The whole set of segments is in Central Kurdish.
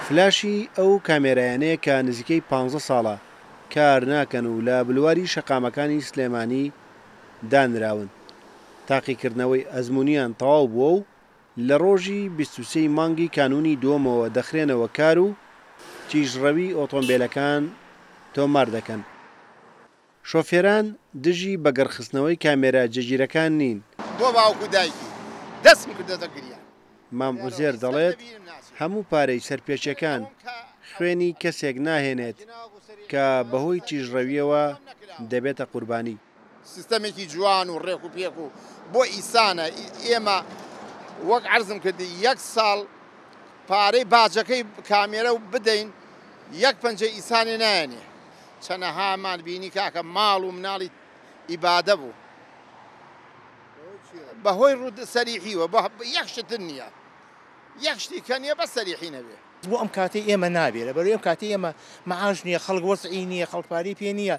فلاشی ئەو کامێرایانەیە کە نزیکەی پانزە ساڵە کار ناکەن و لە بلواری شەقامەکانی سلێمانی دانراون، تاقیکردنەوەی ئەزموونیان تەواو بووە و لە ڕۆژی بیست و سێ ی مانگی کانوونی دووەمەوە دەخرێنەوە کار و تیژڕەوی ئۆتۆمبێلەکان تۆمار دەکەن. شۆفێران دژی بەگەڕخستنەوەی کامێرا جێگیرەکان نین. بۆ باوک و دایکی دەستم کردۆتە گریان. مام عوزێر دەڵێت، هەموو پارەی سەرپێچیەکان خوێنی کەسێک ناهێنێت کە بەهۆی تیژڕەویەوە دەبێتە قوربانی. سیستەمێکی جوان و ڕێک و پێک و بۆ ئیسانە ئێمە وەک عەرزم کرد یەک ساڵ پارەی باجەکەی کامێرە بدەین یەک پەنجەی ئیسانێ نایەنێ. چەنەهامان بینی کاکە ماڵ و مناڵی ئیبادە بوو بەهۆی ڕوود سەریحیوە بە یەک شتن نییە یەک شتی کە نییە بە سەریحی نەبێ. بۆ ئەم کاتی ئێمە نابێ لە بەرەی ئەم کاتی ئێمە معاش نییە خەڵک وەزعی نییە خەڵک پارەی پێ نییە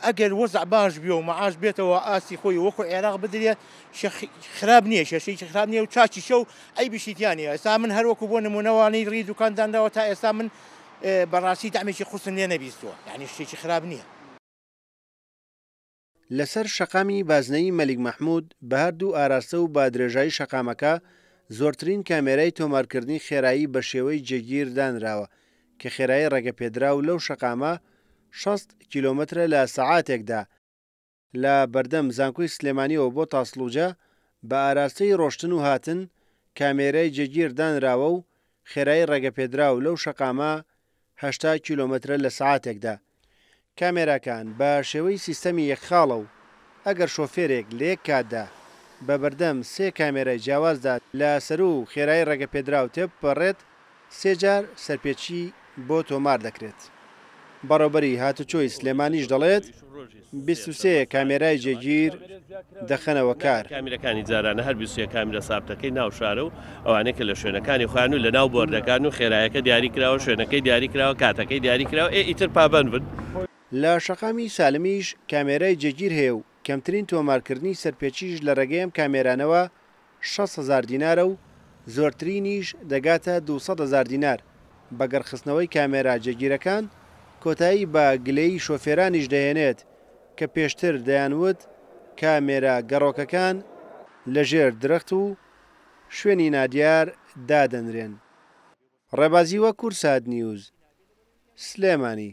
ئەگەر وەزع باش بێ و معاش بێتەوە ئاستی خۆی وەکو عێراق بدرێ خراپ نییە شێشەی خراپ نییە و چاچیشە و ئەی بشیتیانە ئێستا من هەروەکو بۆ نمونەوانی ڕی دوکاندانراوە تا ئێستا من بەڕاستی تەعمێکی قورسم لێ نەبیستووە یانی شتێکی خراپ نییە. لەسەر شەقامی بازنەیی مەلیک مەحمود بەهەردوو ئاراستە و بادرێژایی شەقامەکە زۆرترین کامێرای تۆمارکردنی خێرایی بەشێوەی جێگیر دانراوە کە خێرایی ڕێگەپێدراو لەو شەقامە شەست کیلۆمەترە لە سەعاتێکدا، لە بەردەم زانکۆی سلێمانیەوە بۆ تاسڵوجە بە ئاراستەی ڕۆشتن و هاتن کامێرای جێگیر دانراوە و خێرایی ڕێگەپێدراو لەو شەقامە هەشتا کیلۆمەترە لە سەعاتێکدا. کامێراکان بە شێوەی سیستەمی یەک خاڵە و ئەگەر شۆفێرێک لە یەک کاتدا بە بەردەم سێ کامێرای جیاوازدا لە سەروو خێرایی ڕێگەپێدراو تێبپەڕێت، سێ جار سەرپێچی بۆ تۆمار دەکرێت. بەڕێوبەری هاتوچۆی سلێمانیش دەڵێت، بیست و سێ کامێرای جێگیر دەخەنەوە کار. کامێراکانی جارانە هەر بیست و سێ کامێرا سابتەکەی ناو شارە و ئەوانەی کە لە شوێنەکانی خۆیان و لەناو بۆردەکان و خێرایەکە دیاری کراوە، شوێنەکەی دیاری کراوە، کاتەکەی دیاری کراوە، ئێ ئیتر پابەند بن. لە شەقامی سالمیش کامێرای جێگیر هەیە و کەمترین تۆمارکردنی سەرپێچیش لە رێگەی ئەم کامێرانەوە شەست هەزار دینارە و زۆرترینیش دەگاتە دوو سەد هەزار دینار، بەگەڕ خستنەوەی کامێرا جێگیرەکان کۆتایی بە گلەیی شۆفێرانیش دەهێنێت کە پێشتر دەیانوت کامێرا گەڕۆکەکان لە ژێر درەخت و شوێنی نادیار دادەنرێن. ڕێبازی وەکور سات نیوز، سلێمانی.